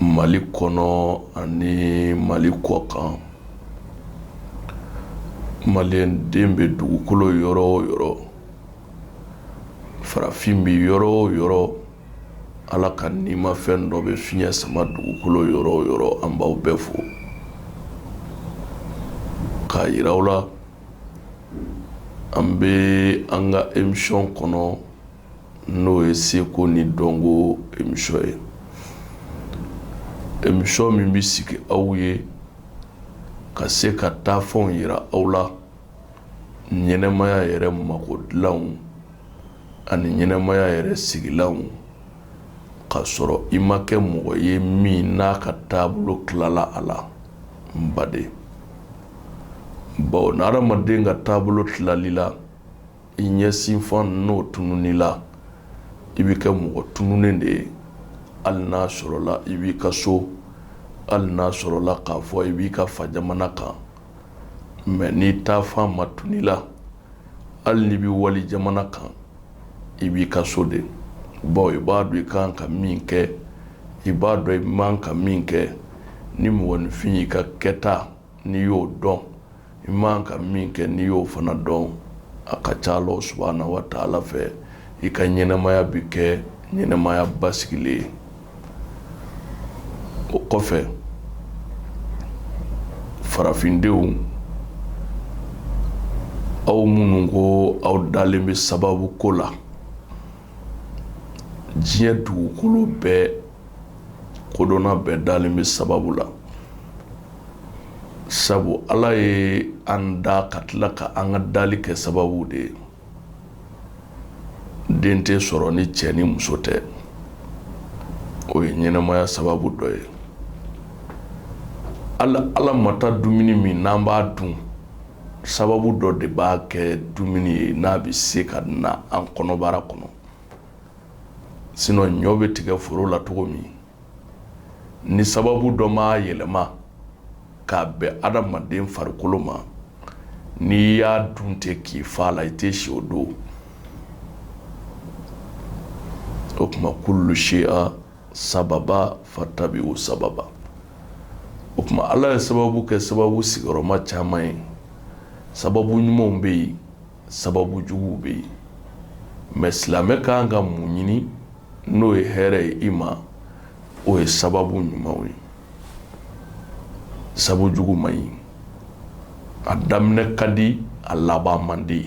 mali kɔnɔ ani mali kɔ kan maliyɛn den bɛ dugukolo yɔrɔ o yɔrɔ farafin bɛ yɔrɔ o yɔrɔ ala ka nimafɛn dɔ bɛ fiɲɛ sama dugukolo yɔrɔ o yɔrɔ an b'aw bɛɛ fo k'a jira aw la an bɛ an ka emisiyɔn kɔnɔ n'o ye seko ni dɔnko emisiyɔn ye emisiyɔn min bɛ sigi aw ye ka se ka taa fɛnw jira aw la ɲɛnɛmaya yɛrɛ mako dilanw ani ɲɛnɛmaya yɛrɛ sigilanw k'a sɔrɔ i ma kɛ mɔgɔ ye min n'a ka taabolo tilala a la n baden baw ni hadamaden ka taabolo tilala i la i ɲɛsinfan n'o tunun i la i bɛ kɛ mɔgɔ tununnen de ye hali n'a sɔrɔla i b'i ka so hali n'a sɔrɔla k'a fɔ i b'i ka fa jamana kan mɛ n'i taafan ma tunun i la hali n'i bɛ wali jamana kan i b'i ka so de baw i b'a dɔn i kan ka min kɛ i b'a dɔn i man ka min kɛ ni mɔgɔninfin y'i ka kɛta n'i y'o dɔn i man ka min kɛ n'i y'o fana dɔn a ka ca ala subahana wa taala fɛ i ka ɲɛnɛmaya bɛ kɛ ɲɛnɛmaya basigilen ye o kɔfɛ farafindenw aw minnu ko aw dalen bɛ sababu ko la diɲɛ dugukolo bɛɛ kodɔnna bɛɛ dalen bɛ sababu la sabu ala ye an da ka tila ka an ka dali kɛ sababu de ye den tɛ sɔrɔ ni cɛ ni muso tɛ o ye ɲɛnɛmaya sababu dɔ ye ala mata dumuni min n'an b'a dun sababu dɔ de b'a kɛ dumuni ye n'a bɛ se ka na an kɔnɔbara kɔnɔ sinɔn ɲɔ bɛ tigɛ foro la cogo min ni sababu dɔ m'a yɛlɛma k'a bɛn adamaden farikolo ma n'i y'a dun ten k'i fa la i tɛ si o don o tuma kulu shaya sababa fatabiu sababa o tuma ala ye sababu kɛ sababu sigiyɔrɔma caman ye sababu ɲumanw bɛ yen sababu juguw bɛ yen mɛ silamɛ ka kan ka mun ɲini n'o ye hɛrɛ ye i ma o ye sababu ɲumanw ye sababu jugu man ɲi a daminɛ ka di a laban man di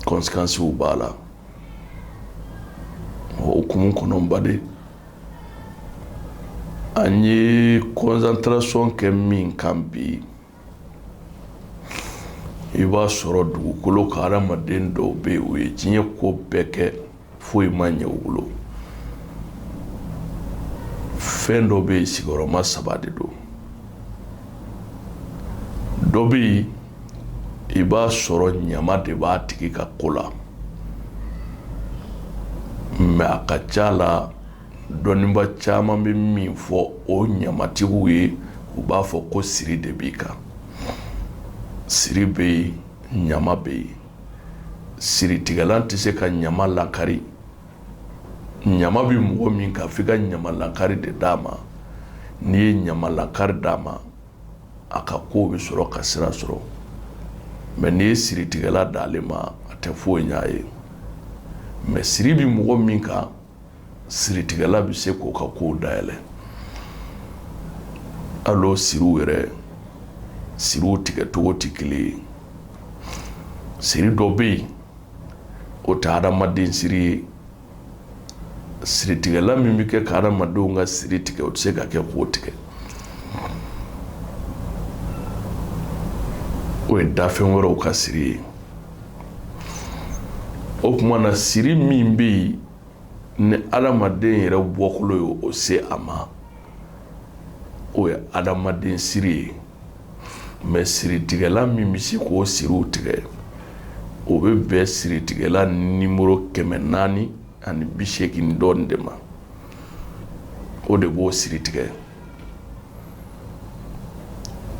conséquences b'a la o hukumu kɔnɔ baden an ye concentration kɛ min kan bi i b'a sɔrɔ dugukolo ka hadamaden dɔw bɛ yen u ye diɲɛ ko bɛɛ kɛ foyi ma ɲɛ u bolo fɛn dɔ bɛ yen sigiyɔrɔma saba de don dɔ bɛ yen i b'a sɔrɔ ɲama de b'a tigi ka ko la mɛ a ka ca la Dɔnnibaa caman bɛ min fɔ o ɲamatigiw ye u b'a fɔ ko siri de b'i kan siri bɛ yen ɲama bɛ yen siritigɛlan tɛ se ka ɲama lakari ɲama bɛ mɔgɔ min kan fo i ka ɲama lakari de d'a ma n'i ye ɲama lakari d'a ma a ka ko bɛ sɔrɔ ka sira sɔrɔ mɛ n'i ye siritigɛla d'ale ma a tɛ foyi ɲ'a ye mɛ siri bɛ mɔgɔ min kan siritigɛla bɛ se k'o ka kow dayɛlɛ hali o siriw yɛrɛ siriw tigɛcogo tɛ kelen ye siri dɔ bɛ yen o tɛ hadamaden siri ye siritigɛla min bɛ kɛ ka hadamadenw ka siri tigɛ o tɛ se ka kɛ k'o tigɛ o ye dafɛn wɛrɛw ka siri ye o tuma na siri min bɛ yen ni adamaden yɛrɛ bɔkolo ye o se a ma o ye adamaden siri ye mɛ siritigɛla min bɛ se k'o siriw tigɛ o bɛ bɛn siritigɛla nimoro kɛmɛ naani ani bi seegin dɔɔnin de ma o de b'o siri tigɛ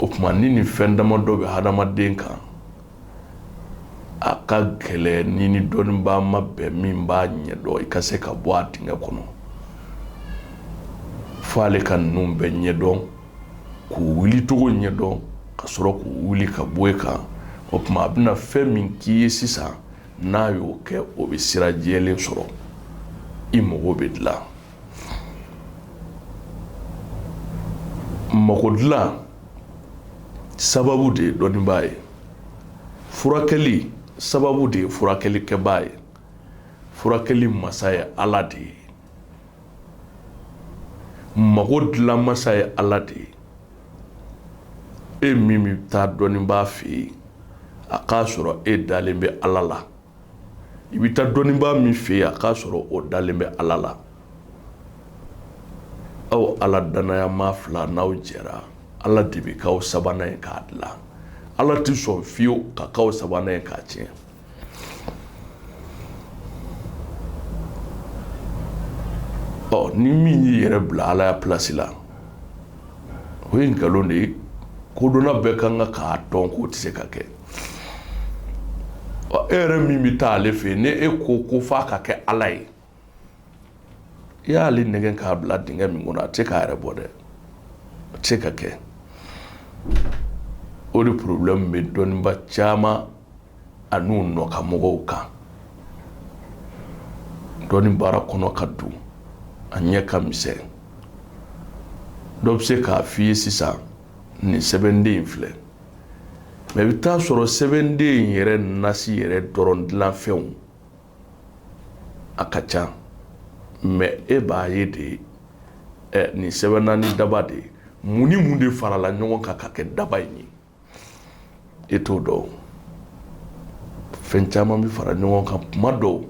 o tuma ni nin fɛn damadɔ bɛ hadamaden kan a ka gɛlɛn n'i ni dɔnnibaa ma bɛn min b'a ɲɛ dɔn i ka se ka bɔ a dingɛ kɔnɔ fo ale ka ninnu bɛɛ ɲɛdɔn k'u wuli cogo ɲɛdɔn ka sɔrɔ k'u wuli ka bɔ e kan o tuma a bɛna fɛn min k'i ye sisan n'a y'o kɛ o bɛ sira jɛlen sɔrɔ i mago bɛ dilan sababu de ye dɔnnibaa ye furakɛli sababu de ye furakɛlikɛbaa ye furakɛli masa ye ala de ye mago dilan masa ye ala de ye e min bɛ taa dɔnnibaa fɛ yen a k'a sɔrɔ e dalen bɛ ala la i bɛ taa dɔnnibaa min fɛ yen a k'a sɔrɔ o dalen bɛ ala la aw ala dannaya maa fila n'aw jɛra ala de bɛ k'aw sabanan ye k'a dilan ala tɛ sɔn fiyewu ka k'aw sabanan ye k'a tiɲɛ ɔ ni min y'i yɛrɛ bila alaya plasi la o ye nkalon de ye kodɔnna bɛɛ ka kan ka k'a dɔn k'o tɛ se ka kɛ e yɛrɛ min bɛ taa ale fɛ yen ni e ko ko f'a ka kɛ ala ye i y'ale nɛgɛn k'a bila dingɛ min kɔnɔ a tɛ se k'a yɛrɛ bɔ dɛ a tɛ se ka kɛ o de porobilɛmu bɛ dɔnniba caman an'u nɔkanmɔgɔw kan dɔnni baara kɔnɔ katugu a ɲɛ ka misɛn dɔ bɛ se k'a f'i ye sisan nin sɛbɛnden in filɛ mɛ i bɛ taa sɔrɔ sɛbɛnden in yɛrɛ nasi yɛrɛ dɔrɔn dilanfɛnw a ka ca mɛ e b'a ye dɛ nin sɛbɛnna ni daba de ye mun ni mun de farala ɲɔgɔn kan ka kɛ daba in ye e t'o dɔn fɛn caman bɛ fara ɲɔgɔn kan kuma dɔw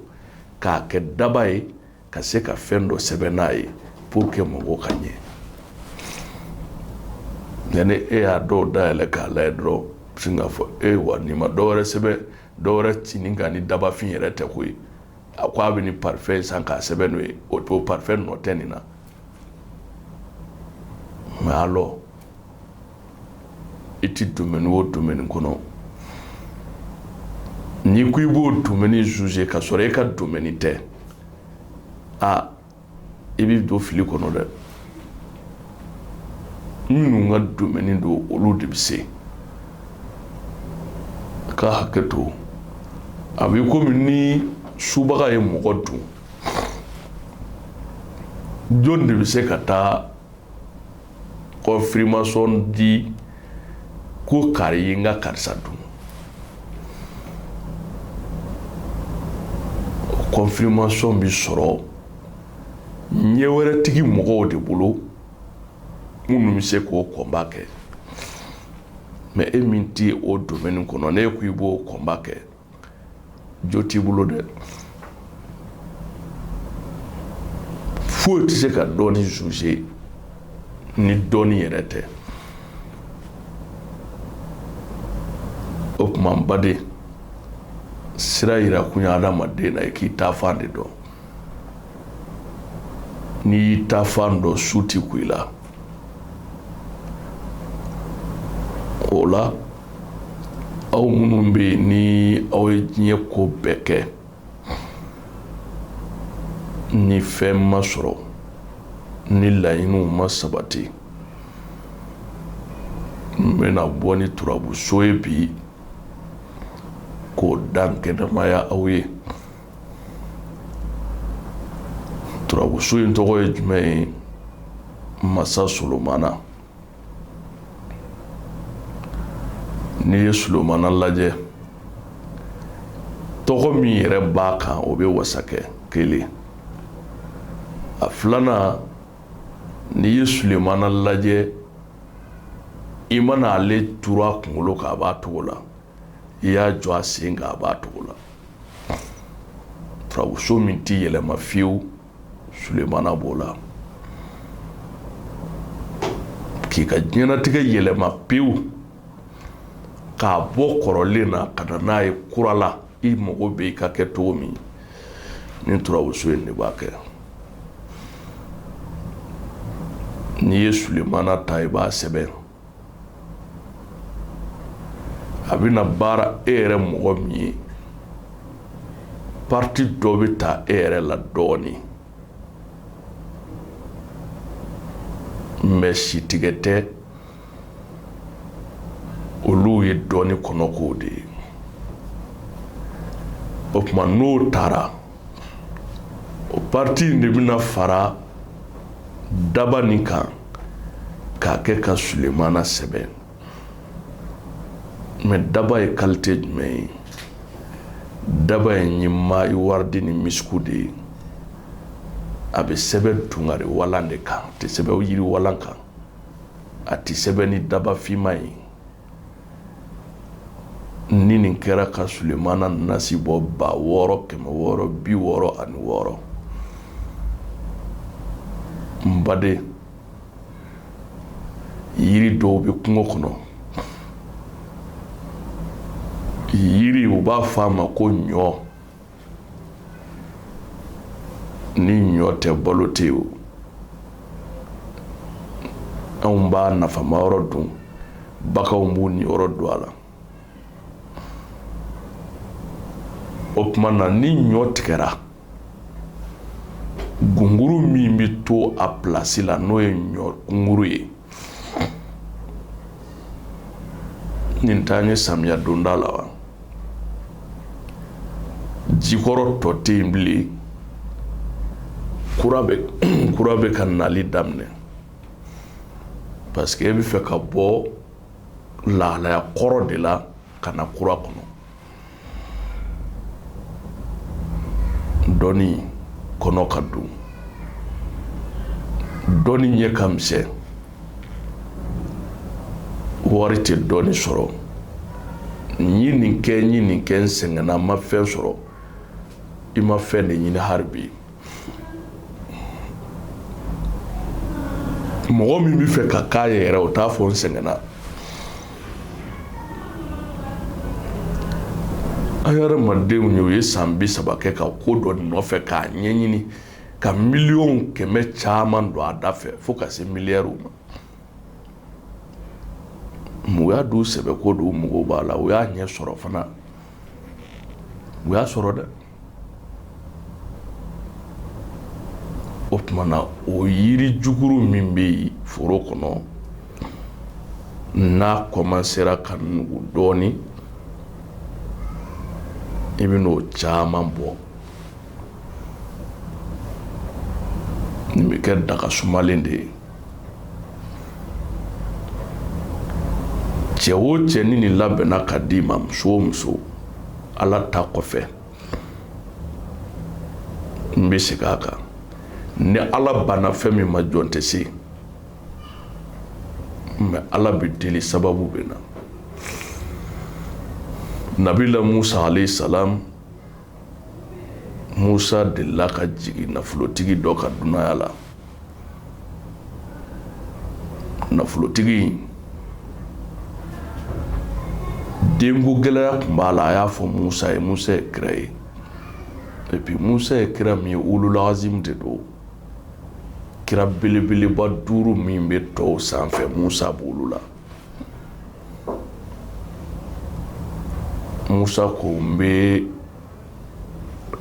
k'a kɛ daba ye ka se ka fɛn dɔ sɛbɛn n'a ye pour que mago ka ɲɛ nka ni e y'a dɔw dayɛlɛ k'a lajɛ dɔrɔn sin k'a fɔ e wa nin ma dɔwɛrɛ sɛbɛn dɔwɛrɛ ci nin kan ni dabafin yɛrɛ tɛ koyi a ko a bɛ nin parfɛn san k'a sɛbɛn n'o ye o parfɛn nɔ tɛ nin na mɛ alɔ i tɛ domɛni o domɛni kɔnɔ n'i ko i b'o domɛni zuze k'a sɔrɔ e ka domɛni tɛ aa i bɛ don fili kɔnɔ dɛ minnu ka domɛni don olu de bɛ se ka hakɛ to a bɛ komi ni subaga ye mɔgɔ dun jɔn de bɛ se ka taa kɔnfirimasɔn di ko kari ye n ka karisa dun kɔnfirimasɔn bɛ sɔrɔ ɲɛ wɛrɛtigi mɔgɔw de bolo minnu bɛ se k'o kɔnba kɛ mɛ e min tɛ o domɛni kɔnɔ n'e ko i b'o kɔnba kɛ jo t'i bolo dɛ foyi tɛ se ka dɔnni zuze ni dɔnni yɛrɛ tɛ o tuma n baden sira yira kun ye adamaden na i k'i taafan de dɔn n'i y'i taafan dɔn su tɛ ku i la o la aw minnu bɛ yen ni aw ye diɲɛ ko bɛɛ kɛ ni fɛn ma sɔrɔ ni laɲiniw ma sabati n bɛna bɔ ni turabuso ye bi k'o dankɛnɛmaya aw ye turabuso in tɔgɔ ye jumɛn ye masa solomana n'i ye Sulomana lajɛ tɔgɔ min yɛrɛ b'a kan o bɛ wasa kɛ kelen a filanan n'i ye Sulomana lajɛ i mana ale turu a kunkolo kan a b'a cogo la i y'a jɔ a sen kan a b'a cogo la turabuso min tɛ yɛlɛma fiyewu sulemana b'o la k'i ka diɲɛnatigɛ yɛlɛma pewu k'a bɔ kɔrɔlen na ka na n'a ye kura la i mago bɛ i ka kɛ cogo min ni turabuso in de b'a kɛ n'i ye sulemana ta i b'a sɛbɛn a bɛna baara e yɛrɛ mɔgɔ min ye pati dɔ bɛ ta e yɛrɛ la dɔɔnin mɛ sitigɛ tɛ olu ye dɔnni kɔnɔkow de ye o tuma n'o tara o pati in de bɛna fara daba nin kan k'a kɛ ka sulemana sɛbɛn mɛ daba ye kalite jumɛn ye daba in ye maayi waridi ni misiku de ye a bɛ sɛbɛn tungari walan de kan a tɛ sɛbɛn yiri walan kan a tɛ sɛbɛn ni daba finma ye ni nin kɛra ka sulemana nasi bɔ ba wɔɔrɔ kɛmɛ wɔɔrɔ bi wɔɔrɔ ani wɔɔrɔ n baden yiri dɔw bɛ kungo kɔnɔ yiri u b'a fɔ a ma ko ɲɔ ni ɲɔ tɛ balo tɛ yen o anw b'a nafama yɔrɔ dun baganw b'u niyɔrɔ dun a la o tuma na ni ɲɔ tigɛra gunguru min bɛ to a pilasi la n'o ye ɲɔ gunguru ye nin t'an ye samiya donda la wa ji kɔrɔ tɔ tɛ yen bilen kura bɛ ka nali daminɛ parce que e bɛ fɛ ka bɔ lahalaya kɔrɔ de la ka na kura kɔnɔ dɔnni kɔnɔ ka dun dɔnni ɲɛ ka misɛn wari tɛ dɔnni sɔrɔ n ye nin kɛ n ye nin kɛ n sɛgɛnna n ma fɛn sɔrɔ i ma fɛn de ɲini hali bi mɔgɔ min bɛ fɛ ka k'a ye yɛrɛ o t'a fɔ n sɛgɛnna an ye adamadenw ye u ye san bi saba kɛ ka ko dɔ nɔfɛ k'a ɲɛɲini ka miliyɔn kɛmɛ caman don a da fɛ fo ka se miliyariw ma mɔgɔ y'a don sɛbɛ ko don u mago b'a la u y'a ɲɛ sɔrɔ fana u y'a sɔrɔ dɛ o tuma na o yiri jukuru min bɛ yen foro kɔnɔ n'a kɔmansera ka nugu dɔɔnin i bɛ n'o caman bɔ Nin bɛ kɛ daga sumalen de ye cɛ wo cɛ ni ni labɛnna ka d'i ma muso o muso ala ta kɔfɛ n bɛ segin a kan ni ala banna fɛn min ma jɔn tɛ se mɛ ala bɛ deli sababu bɛ na nabila musa alayhi salam musa delila ka jigin nafolotigi dɔ ka dunanya la nafolotigi denko gɛlɛya tun b'a la a y'a fɔ musa ye musa ye kira ye epi musa ye kira min ye ulul azimu de don kira belebeleba duuru min bɛ tɔw sanfɛ musa b'olu la Musa ko n bɛ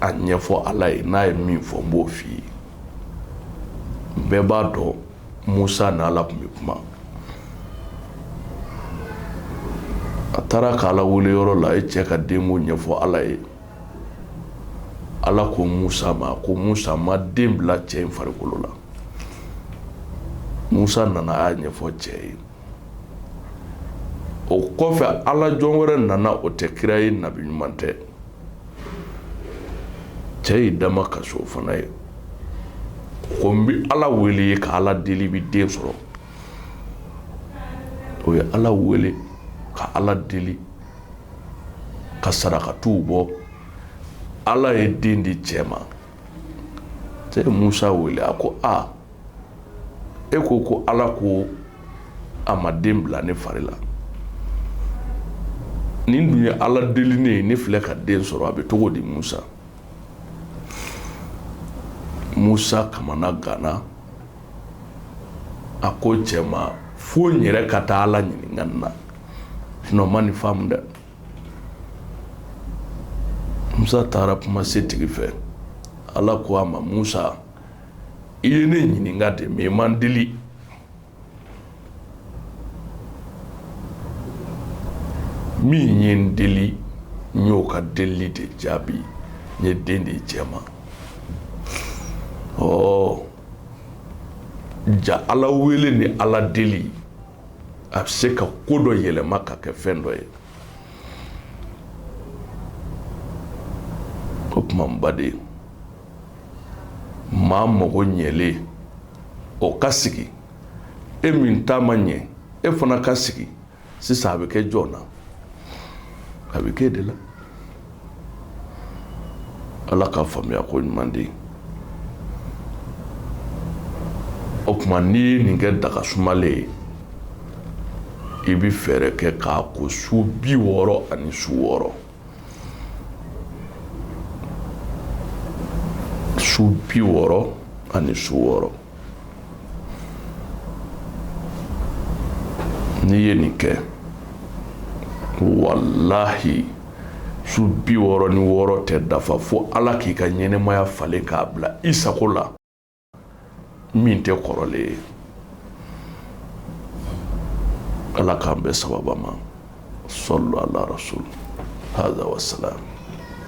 a ɲɛfɔ ala ye n'a ye min fɔ n b'o f'i ye bɛɛ b'a dɔn musa ni ala tun bɛ kuma a taara k'ala wele yɔrɔ la a ye cɛ ka denko ɲɛfɔ ala ye ala ko musa ma ko musa n ma den bila cɛ in farikolo la musa nana a y'a ɲɛfɔ cɛ ye o kɔfɛ ala jɔn wɛrɛ nana o tɛ kira ye nabi ɲuman tɛ cɛ y'i damakasi o fana ye ko n bɛ ala wele i ye ka ala deli i bɛ den sɔrɔ o ye ala wele ka ala deli ka sarakatiw bɔ ala ye den di cɛ ma cɛ ye musa wele a ko a e ko ko ala ko a ma den bila ne fari la nin dun ye ala deli ne ye ne filɛ ka den sɔrɔ a bɛ cogo di musa musa kamanaganna a ko cɛ ma fo n yɛrɛ ka taa ala ɲininka nin na sinon n ma nin faamu dɛ musa taara kuma setigi fɛ ala ko a ma musa i ye ne ɲininka de mais i ma n deli min ye n deli n y'o ka deli de jaabi n ye den di cɛ ma jaa ala wele ni ala deli a bɛ se ka ko dɔ yɛlɛma ka kɛ fɛn dɔ ye o tuma n baden maa mago ɲɛlen o ka sigi e min ta ma ɲɛ e fana ka sigi sisan a bɛ kɛ jɔn na a bɛ kɛ de la ala ka faamuya ko ɲuman di o tuma n'i ye nin kɛ daga sumalen ye i bɛ fɛɛrɛ kɛ k'a ko su bi wɔɔrɔ ani su wɔɔrɔ su bi wɔɔrɔ ani su wɔɔrɔ n'i ye nin kɛ walahi su bi wɔɔrɔ ni wɔɔrɔ tɛ dafa fo ala k'i ka ɲɛnamaya falen k'a bila i sago la min tɛ kɔrɔlen ye ala k'an bɛn sababu ma sallu ala rasul haza